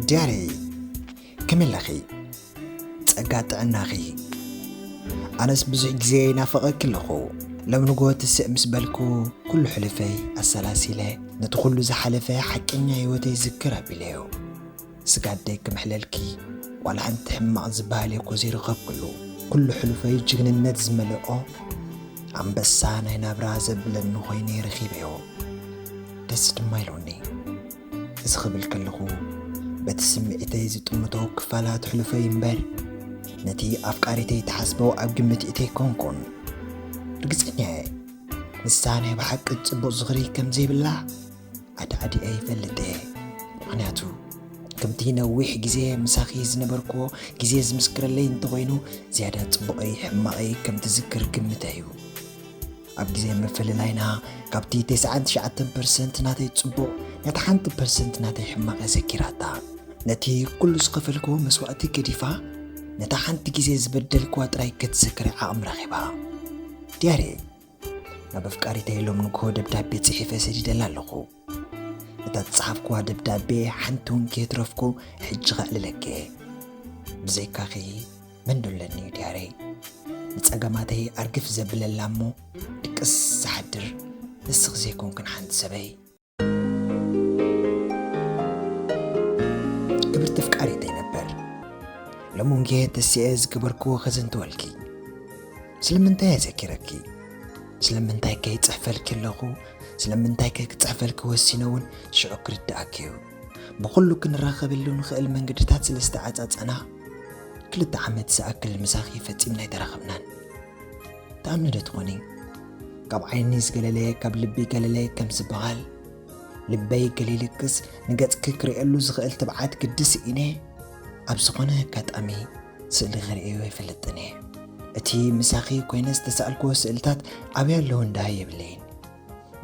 ዲያነይ ከመይ ኣለኺ ጸጋ ጥዕናኺ ኣነስ ብዙሕ ግዜ ይናፈቐኪ ኣለኹ ሎም ንጎ ትስእ ምስ በልኩ ኩሉ ሕልፈይ ኣሰላሲለ ነቲ ኩሉ ዝሓለፈ ሓቀኛ ህይወተይ ዝክር ኣቢለዮ ስጋደይ ክምሕለልኪ ዋላ ሓንቲ ሕማቕ ዝበሃል እኮ ዘይረኸብክሉ ኩሉ ሕልፈይ ጅግንነት ዝመልኦ ኣንበሳ ናይ ናብራ ዘብለኒ ኮይነ ረኺበዮ ደስ ድማ ኢሉኒ እዚ ክብል ከለኹ በቲ ስምዒተይ ዝጥምቶ ክፋላት ሕሉፈይ እምበር ነቲ ኣፍቃሪተይ ትሓስቦ ኣብ ግምት እተይ ኮንኩን ርግፀኛ እየ ንሳ ናይ ብሓቂ ፅቡቕ ዝኽሪ ከም ዘይብላ ኣድዓዲኣ ይፈልጥ እየ ምክንያቱ ከምቲ ነዊሕ ግዜ ምሳኺ ዝነበርክዎ ግዜ ዝምስክረለይ እንተኾይኑ ዝያዳ ፅቡቐይ ሕማቐይ ከም ትዝክር ግምተ እዩ ኣብ ግዜ ምፍልላይና ካብቲ ተስዓን ትሽዓተን ፐርሰንት ናተይ ጽቡቕ ነታ ሓንቲ ፐርሰንት ናተይ ሕማቕ እየ ዘኪራታ። ነቲ ኩሉ ዝኸፈልክዎ መስዋእቲ ገዲፋ ነታ ሓንቲ ግዜ ዝበደልክዋ ጥራይ ከትዘክር ዓቕሚ ረኺባ። ዲያሪ። ናብ ኣፍቃሪተይ ሎም ንግሆ ደብዳቤ ጽሒፈ ሰዲደላ ኣለኹ። እታ ዝጸሓፍክዋ ደብዳቤ ሓንቲ እውን ከየትረፍኩ ሕጂ ከዕልለኪ እየ ብዘይካኺ መን ዶ ኣለኒ እዩ ድያረይ ንጸገማተይ ኣርግፍ ዘብለላ እሞ ድቅስ ዝሓድር ንስኺ ዘይኮንክን ሓንቲ ሰበይ ክብርቲ ፍቃሪተይ ነበር ሎሚ ጌ ተስኤ ዝገበርክዎ ከዘንትወልኪ ስለምንታይ ኣዘኪረኪ ስለምንታይ ከ ይጽሕፈልኪ ኣለኹ ስለምንታይ ከ ክጽሕፈልኪ ወሲነ እውን ሽዑ ክርድኣኪ እዩ ብኹሉ ክንራኸበሉ ንኽእል መንገድታት ስለ ዝተዓጻጸና ክልተ ዓመት ዝኣክል ምሳኺ ፈጺምና ኣይተራኸብናን ተኣምኒ ዶ ትኾኒ ካብ ዓይኒ ዝገለለየ ካብ ልቢ ገለለየ ከም ዝበሃል ልበይ ገሊልክስ ንገጽኪ ክርእየሉ ዝኽእል ትብዓት ግድስ ኢነ ኣብ ዝኾነ ኣጋጣሚ ስእሊ ክርእዮ ኣይፈልጥን እየ። እቲ ምሳኺ ኮይነ ዝተሳእልክዎ ስእልታት ኣበይ ኣለዉ እንድሃይ የብለይን።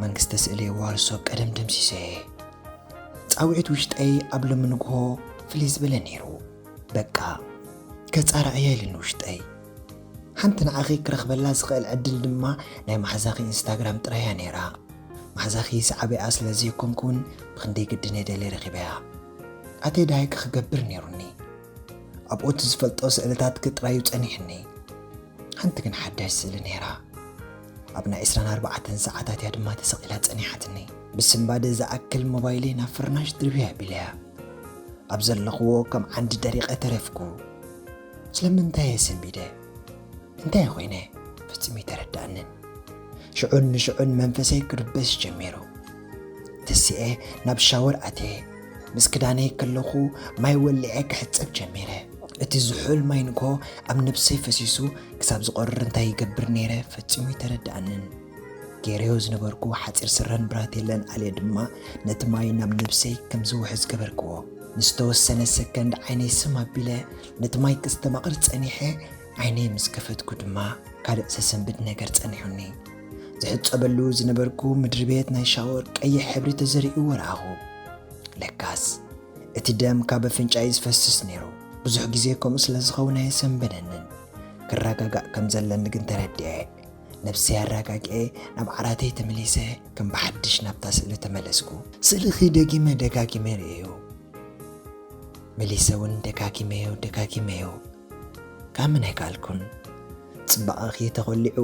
መንግስተ ስእሊ የዋርሶ ቀደም ደምሲሰዮ እየ። ጻውዒት ውሽጠይ ኣብ ሎሚ ንግሆ ፍልይ ዝበለ ነይሩ። በቃ ከጻርዕያ ኢሉ ንውሽጠይ። ሓንቲ ንዓኺ ክረኽበላ ዝኽእል ዕድል ድማ ናይ ማሕዛኺ ኢንስታግራም ጥራይ እያ ነይራ። ማሕዛኺ ሰዓቢኣ ስለ ዘይኮንኩ እውን ብኽንደይ ግድን እየ ደልየ ረኺበያ። ኣትየ ድሃይኪ ክገብር ነይሩኒ። ኣብኡቲ ዝፈልጦ ስእልታትኪ ጥራዩ ጸኒሕኒ ሓንቲ ግን ሓዳሽ ስእሊ ነይራ ኣብ ናይ ዕስራን ኣርባዕተን ሰዓታት እያ ድማ ተሰቒላ ጸኒሓትኒ ብስምባደ ዝኣክል ሞባይለይ ናብ ፍርናሽ ድርብያ ኣቢለያ ኣብ ዘለኽዎ ከም ዓንዲ ደሪቐ ተረፍኩ ስለምንታይ እየ ሰንቢደ እንታይ ኮይነ ፍጽም ይተረዳእንን ሽዑን ንሽዑን መንፈሰይ ክርበሽ ጀሚሩ ተሲኤ ናብ ሻወር ኣትየ ምስ ክዳነይ ከለኹ ማይ ወሊዐ ክሕጸብ ጀሚረ። እቲ ዝሑል ማይ ንግሆ ኣብ ነብሰይ ፈሲሱ ክሳብ ዝቖርር እንታይ ይገብር ነይረ ፈጺሙ ኣይተረድኣንን። ገይረዮ ዝነበርኩ ሓጺር ስረን ብራቴለን ኣልየ ድማ ነቲ ማይ ናብ ነብሰይ ከም ዝውሕዝ ገበርክዎ። ንዝተወሰነ ሰከንድ ዓይነይ ስም ኣቢለ ነቲ ማይ ከስተማቕር ጸኒሐ፣ ዓይነይ ምስ ከፈትኩ ድማ ካልእ ዘሰንብድ ነገር ጸኒሑኒ። ዝሕጸበሉ ዝነበርኩ ምድሪ ቤት ናይ ሻወር ቀይሕ ሕብሪ ተዘሪኡ ወረኣኹ። ለካስ እቲ ደም ካብ ኣፍንጫይ ዝፈስስ ነይሩ። ብዙሕ ግዜ ከምኡ ስለ ዝኸውን ኣየሰንበደንን። ክረጋጋእ ከም ዘለኒ ግን ተረድኤ። ነብሰይ ኣረጋግኤ ናብ ዓራተይ ተመሊሰ ከም ብሓድሽ ናብታ ስእሊ ተመለስኩ። ስእልኺ ደጊመ ደጋጊመ ርእየዮ መሊሰ እውን ደጋጊመዮ ደጋጊመዮ ከምን ኣይከኣልኩን። ጽባቐኺ ተኾሊዑ፣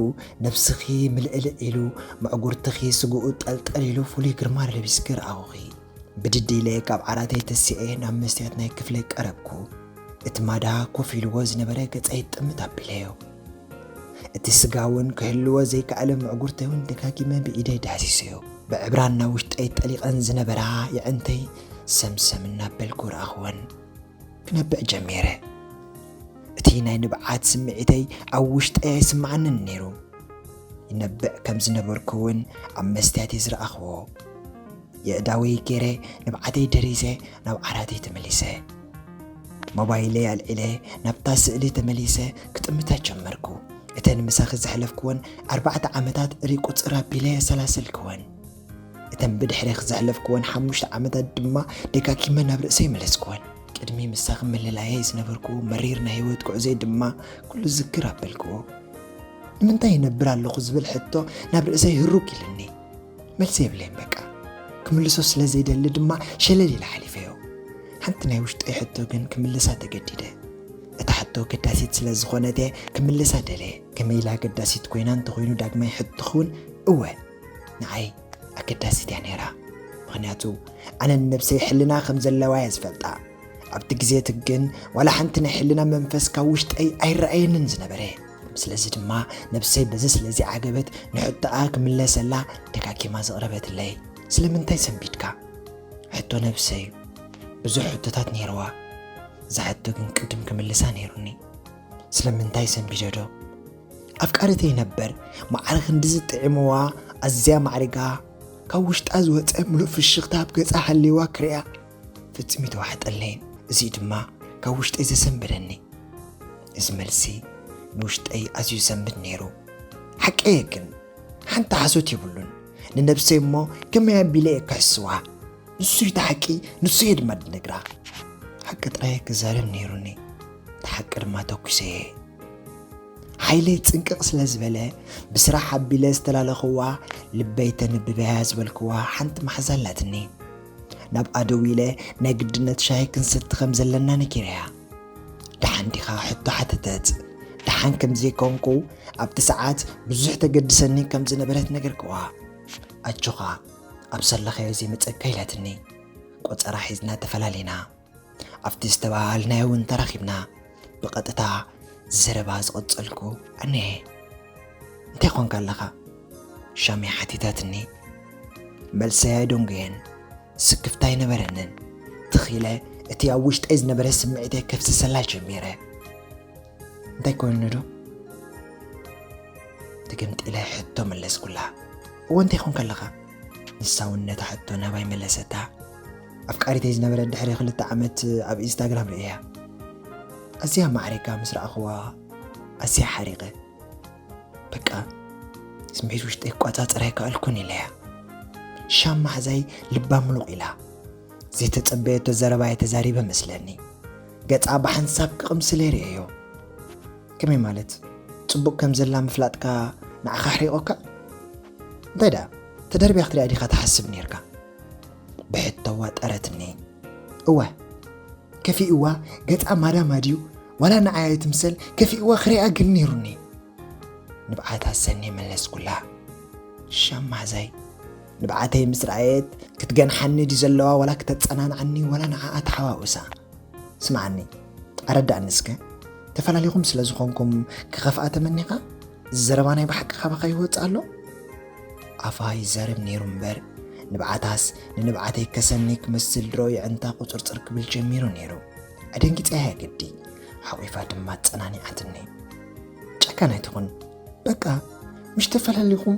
ነብስኺ ምልዕልዕ ኢሉ፣ መዕጉርትኺ ስግኡ ጠልጠል ኢሉ ፍሉይ ግርማ ለቢስኪ ረኣኹኺ። ብድድ ኢለ ካብ ዓራተይ ተሲኤ ናብ መስትያት ናይ ክፍለይ ቀረብኩ። እቲ ማዳ ኮፍ ኢልዎ ዝነበረ ገጸይ ጥምት ኣቢለዮ። እቲ ስጋ'ውን ክህልዎ ዘይከኣለ መዕጉርተይ'ውን ደጋጊመ ብኢደይ ዳህሲሰዮ። ብዕብራን ናብ ውሽጠይ ጠሊቐን ዝነበራ የዕንተይ ሰምሰም እናበልኩ ረኣኹወን። ክነብዕ ጀሚረ። እቲ ናይ ንብዓት ስምዒተይ ኣብ ውሽጠይ ኣይስምዓንን ነይሩ። ይነብዕ ከም ዝነበርኩ እውን ኣብ መስትያት እየ ዝረኣኽዎ። የእዳወይ ገይረ ንብዓተይ ደሪዘ ናብ ዓራተይ ተመሊሰ። ሞባይለይ ኣልዒለ ናብታ ስእሊ ተመሊሰ ክጥምታ ጀመርኩ እተን ምሳኺ ዘሕለፍክወን ኣርባዕተ ዓመታት ሪቁፅር ኣቢለ ኣሰላሰልክወን እተን ብድሕሬኽ ዘሕለፍክወን ሓሙሽተ ዓመታት ድማ ደጋጊመ ናብ ርእሰይ መለስክወን። ቅድሚ ምሳኺ ምልላየይ ዝነበርክዎ መሪር ናይ ህይወት ጉዕዞይ ድማ ኩሉ ዝክር ኣበልክዎ። ንምንታይ ይነብር ኣለኹ ዝብል ሕቶ ናብ ርእሰይ ህሩግ ኢልኒ። መልሲ የብለይን በቃ። ክምልሶ ስለ ዘይደሊ ድማ ሸለል ኢለ ሓሊፈዮ። ሓንቲ ናይ ውሽጠይ ሕቶ ግን ክምልሳ ተገዲደ። እታ ሕቶ ኣገዳሲት ስለ ዝኾነት እየ ክምልሳ ደለየ። ከመይ ኢላ ኣገዳሲት ኮይና እንተኾይኑ ዳግማይ ሕቶኺ እውን እወ። ንዓይ ኣገዳሲት እያ ነይራ ምኽንያቱ ኣነ ንነብሰይ ሕልና ከም ዘለዋ እየ ዝፈልጣ ኣብቲ ግዜ እቲ ግን ዋላ ሓንቲ ናይ ሕልና መንፈስ ካብ ውሽጠይ ኣይረኣየንን ዝነበረ ስለዚ ድማ ነብሰይ በዚ ስለዚ ዓገበት ንሕቶኣ ክምለሰላ ደጋጊማ ዘቕረበትለይ ስለምንታይ ሰንቢድካ ሕቶ ነብሰይ ብዙሕ ሕቶታት ነይርዋ እዛ ሕቶ ግን ቅድም ክምልሳ ነይሩኒ ስለምንታይ ሰንቢደዶ ኣፍቃሪተይ ነበር ማዕረ ክንድዚ ጥዒምዋ ኣዝያ ማዕሪጋ ካብ ውሽጣ ዝወፀ ምሉእ ፍሽኽታ ኣብ ገፃ ሃልይዋ ክሪኣ ፍፅም ይተዋሕጠለይን እዙይ ድማ ካብ ውሽጠይ ዘሰንበደኒ እዚ መልሲ ንውሽጠይ ኣዝዩ ዘንብድ ነይሩ ሓቀየ ግን ሓንቲ ሓሶት የብሉን ንነብሰይ እሞ ከመይ ኣቢለ እየ ክሕስዋ ንሱ እቲ ሓቂ ንሱ እየ ድማ ድነግራ ሓቂ ጥራይ ክዛረብ ነይሩኒ እቲ ሓቂ ድማ ተኪሰ እየ ሓይለይ ፅንቅቕ ስለ ዝበለ ብስራሕ ኣቢለ ዝተላለኽዋ ልበይ ተንብበያ ዝበልክዋ ሓንቲ መሓዛ ኣላትኒ ናብ ኣደው ኢለ ናይ ግድነት ሻሂ ክንሰቲ ከም ዘለና ነጊረያ ደሓን ዲኻ ሕቶ ሓተተት ደሓን ከም ዘይኮንኩ ኣብቲ ሰዓት ብዙሕ ተገድሰኒ ከም ዝነበረት ነገርክዋ ኣጆኻ ኣብ ሰለኸዮ ዘይመፀካ ኢላትኒ ቆፀራ ሒዝና ተፈላለና ኣብቲ ዝተበሃሃልናዮ እውን ተራኺብና ብቐጥታ ዘረባ ዝቐጸልኩ ኣነየ። እንታይ ኾንካ ኣለኻ? ሻሚ ሓቲታትኒ። መልሰይ ኣይደንጎየን፣ ስክፍታ ኣይነበረንን። ትኽ ኢለ እቲ ኣብ ውሽጠይ ዝነበረ ስምዒተይ ከፍስሰላ ጀሚረ። እንታይ ኮይኑ ዶ? ትግምጢለ ሕቶ መለስኩላ። እወ እንታይ ኾንካ ኣለኻ? ንሳ እውን ነታ ሕቶ ናባይ መለሰታ። ኣፍቃሪተይ ዝነበረት ድሕሪ ክልተ ዓመት ኣብ ኢንስታግራም ርእየያ ኣዝያ ማዕሪጋ ምስ ረኣኽዋ ኣዝያ ሓሪቐ በቃ ስምዒት ውሽጠይ ክቋፃፀር ኣይከኣልኩን ኢለያ ሻም ማሕዛይ ልባ ምሉቕ ኢላ ዘይተፀበየቶ ዘረባ የተዛሪበ መስለኒ ገፃ ብሓንሳብ ክቕምስለ ርእየዮ ከመይ ማለት ፅቡቕ ከም ዘላ ምፍላጥካ ንዓኻ ኣሕሪቖካ እንታይ ደኣ ተደርቢያ ክትሪኣ ዲኻ ትሓስብ ነርካ ብሕቶ ዋጠረትኒ እወ ከፊእዋ ገጻ ማዳማ ድዩ ዋላ ንዓያ ትምሰል ከፊእዋ ክሪኣ ግን ነይሩኒ ንብዓት ኣሰኒ መለስኩላ ሸማዛይ ንብዓተይ ምስ ረኣየት ክትገንሓኒ ድዩ ዘለዋ ዋላ ክተጸናንዓኒ ዋላ ንዓኣ ተሓዋውሳ ስምዓኒ ኣረዳእኒ እስከ ተፈላለኹም ስለ ዝኾንኩም ክኸፍኣ ተመኒኻ እዚ ዘረባ ናይ ብሓቂ ካባኻ ይወጽእ ኣሎ ኣፋ ይዛረብ ነይሩ እምበር ንብዓታስ ንንብዓተይ ከሰኒ ክመስል ድሮ የዕንታ ቁፅርፅር ክብል ጀሚሩ ነይሩ። ኣደንጊፀያ ግዲ ሓቚፋ ድማ ኣፀናኒዓትኒ። ጨካን ኣይትኹን በቃ ምሽ ተፈላሊኹም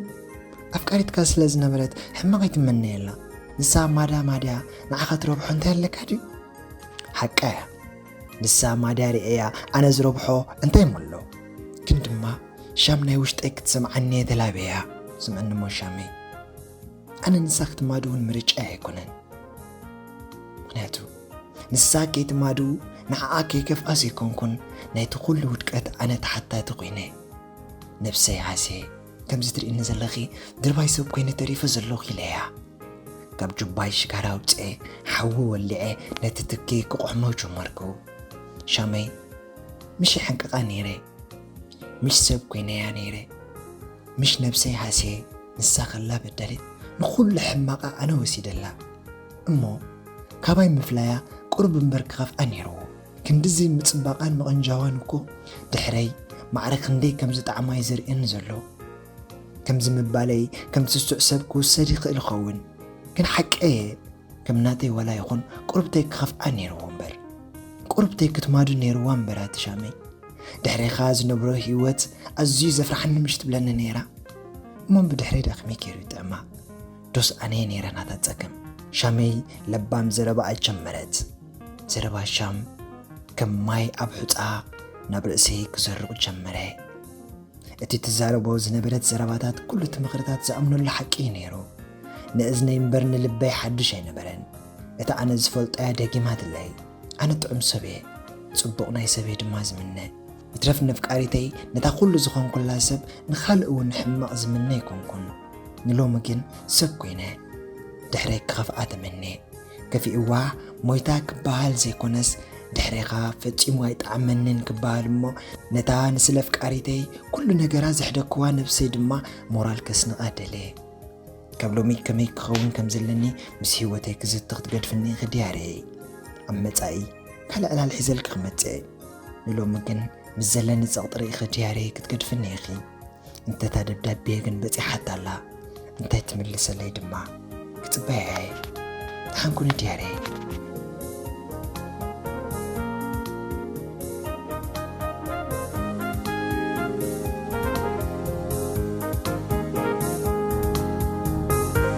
ኣፍቃሪትካ ስለ ዝነበረት ሕማቕ ኣይትመነየላ ንሳ ማዳ ማድያ ንዓኻ ትረብሖ እንታይ ኣለካ ድዩ ሓቃ እያ ንሳ ማድያ ርእያ ኣነ ዝረብሖ እንታይ እሞ ኣሎ ግን ድማ ሻም ናይ ውሽጠይ ክትሰምዓኒ እየ ተላብያ ስምዕኒ እሞ ሻመይ ኣነ ንሳ ክትማድ እውን ምርጫይ ኣይኮነን ምክንያቱ ንሳ ከይትማዱ ንዓኣ ከይከፍኣ ዘይኮንኩን ናይቲ ኩሉ ውድቀት ኣነ ተሓታቲ ኮይነ ነብሰይ ሃስየ ከምዚ ትርእኒ ዘለኺ ድርባይ ሰብ ኮይነ ተሪፈ ዘለኹ ኢለያ ካብ ጁባይ ሽጋራ ኣውፅኤ ሓዊ ወሊዐ ነቲ ትኪ ክቆሕሞ ጀመርኩ ሻመይ ምሽ ይሓንቅቓ ነይረ ምሽ ሰብ ኮይነያ ነይረ ምሽ ነብሰይ ሃስየ ንሳ ከላ በዳሊት ንኹሉ ሕማቓ ኣነ ወሲደላ እሞ ካባይ ምፍላያ ቁርብ እምበር ክኸፍኣ ነይርዎ ክንድዚ ምጽባቓን ምቕንጃዋን እኮ ድሕረይ ማዕረ ክንደይ ከም ዝጠዓማ'ዩ ዘርእየኒ ዘሎ። ከምዚ ምባለይ ከም ስሱዕ ሰብ ክውሰድ ይኽእል ይኸውን፣ ግን ሓቀይ'የ። ከም ናተይ ዋላ ይኹን ቁርብተይ ክኸፍኣ ነይርዎ እምበር። ቁርብተይ ክትማዱ ነይርዋ እምበር ኣቲ ሻመይ። ድሕሬኻ ዝነብሮ ህይወት ኣዝዩ ዘፍርሓኒ ምሽ ትብለኒ ነይራ። እሞ ብድሕረይ ደኣ ከመይ ገይሩ ይጥዕማ? ዶስ ኣነ'የ ነይረ ናታ ጸገም? ሻመይ ለባም ዘረባኣ ጀመረት። ዘረባ ሻም ከም ማይ ኣብ ሑፃ ናብ ርእሰይ ክሰርቕ ጀመረ። እቲ ትዛረቦ ዝነበረት ዘረባታት ኩሉ እቲ ምኽርታት ዝኣምነሉ ሓቂ እዩ ነይሩ። ንእዝነይ እምበር ንልበይ ሓድሽ ኣይነበረን። እቲ ኣነ ዝፈልጦ እያ ደጊማትለይ። ኣነ ጥዑም ሰብ እየ፣ ጽቡቕ ናይ ሰብ እየ ድማ ዝምነ። ይትረፍ ነፍቃሪተይ ነታ ኩሉ ዝኾንኩላ ሰብ ንኻልእ እውን ሕማቕ ዝምነ ኣይኮንኩን። ንሎሚ ግን ሰብ ኮይነ ድሕረይ ክኸፍኣ ተመንየ። ከፊእዋ ሞይታ ክበሃል ዘይኮነስ ድሕሬኻ ፈጺሙ ኣይጠዓመንን ክበሃል እሞ ነታ ንስለ ኣፍቃሪተይ ኩሉ ነገራ ዘሕደክዋ ነብሰይ ድማ ሞራል ከስንቓ ደሌ ካብ ሎሚ ከመይ ክኸውን ከም ዘለኒ ምስ ህይወተይ ክዝቲ ክትገድፍኒ ኢኺ ድያርየይ ኣብ መጻኢ ካልእ ዕላል ሒዘልኪ ክመጽእ ንሎሚ ግን ምስ ዘለኒ ጸቕጢ ርኢኺ ድያርየይ ክትገድፍኒ ኢኺ እንተ እታ ደብዳቤ ግን በጺሓታ ኣላ እንታይ ትምልሰለይ ድማ ክጽበያ እየ ደሓን ኩኒ ድያረይ